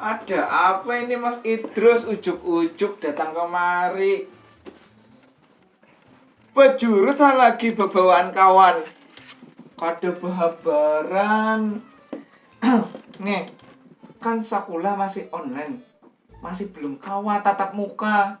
Ada apa ini Mas Idrus ujuk-ujuk datang kemari? Bejurut ha lagi bebawaan kawan. Kada behabaran. Nge, kan sakulah masih online. Masih belum kawa tatap muka.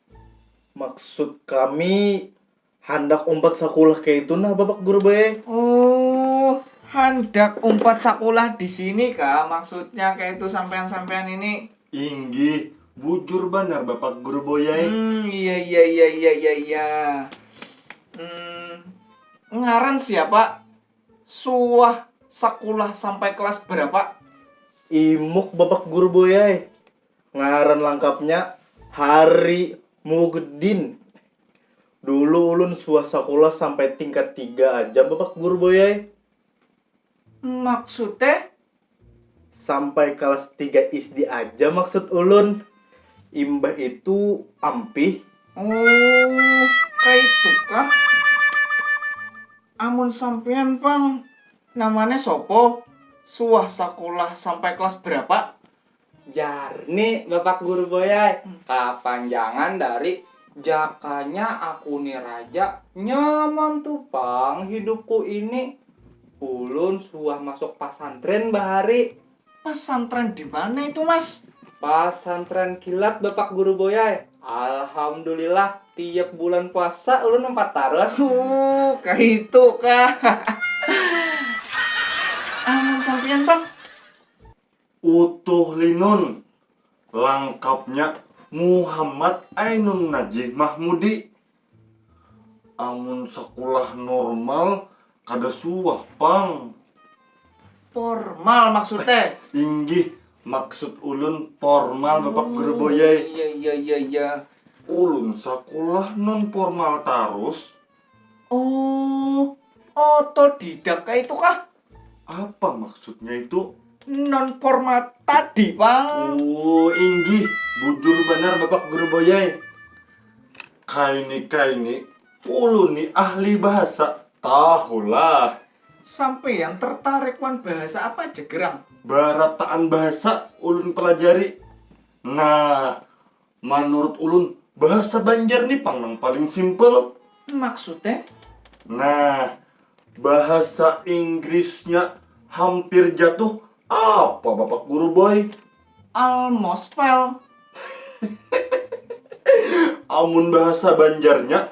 Maksud kami handak umpat sakulah kayak itu nah Bapak Guru bae. Oh, handak umpat sakulah di sini kah maksudnya kayak itu sampean-sampean ini? Inggih, bujur banar Bapak Guru boyai. Hmm, iya iya iya iya iya iya. Hmm, ngaran siapa? Suah sakulah sampai kelas berapa? Imuk Bapak Guru boyai. Ngaran langkapnya Hari Mugdin. Dulu ulun suah sakulah sampai tingkat tiga aja babak guru boy ai. Maksud e? Sampai kalas tiga isdi aja maksud ulun. Imbah itu ampih. Oh, kaitu kah? Amun sampean pang namanya sopo? Suah sakulah sampai kelas berapa? Jar ni bapak guru boy ai, kapanjangan dari jakanya aku ni raja, nyaman tu pang hidupku ini, ulun suah masuk pasantren bahari. Pasantren dimana itu mas? Pasantren kilat bapak guru boy ai, alhamdulillah tiap bulan puasa ulun umpat tarus. Ooh kaitu kah. Amun sampiyan pang. Utuh Linun, langkapnya Muhammad Ainun Najih Mahmudi. Amun sakulah normal kada suah pang. Pormal maksud te? Inggih, maksud ulun pormal bapak guru boyai. Oh iya iya iya iya. Ulun sakulah non pormal tarus. Oh, otodidak kaitu kah? Apa maksudnya itu? Non format tadi, Pang. Oh, inggih. Bujur benar Bapak Guru Boyai. Kaini-kaini, ulun ni ahli bahasa. Tahulah. Sampean tertarik wan bahasa apa aja gerang? Barataan bahasa ulun pelajari. Nah, Manurut ulun, bahasa Banjar ni pang nang paling simple. Maksudnya? Nah, bahasa Inggrisnya hampir jatuh apa Bapak Guru Boy? Almost fell. Amun bahasa Banjarnya,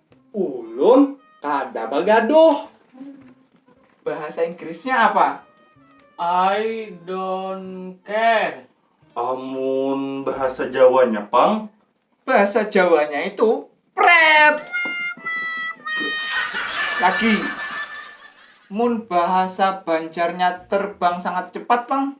Ulun kada bagaduh. Bahasa Inggrisnya apa? I don't care. Amun bahasa Jawanya pang? Bahasa Jawanya itu pret. Lagi. Mun bahasa Banjarnya terbang sangat cepat pang?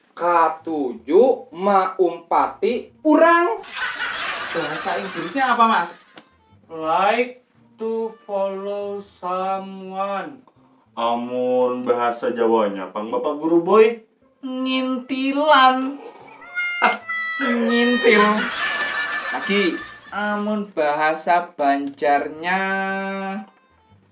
Katuju maumpati urang. Bahasa Inggrisnya apa mas? Like to follow someone. Amun bahasa jawanya pang bapak guru boy? Ngintilan. Ngintil. Lagi. Amun bahasa banjarnya.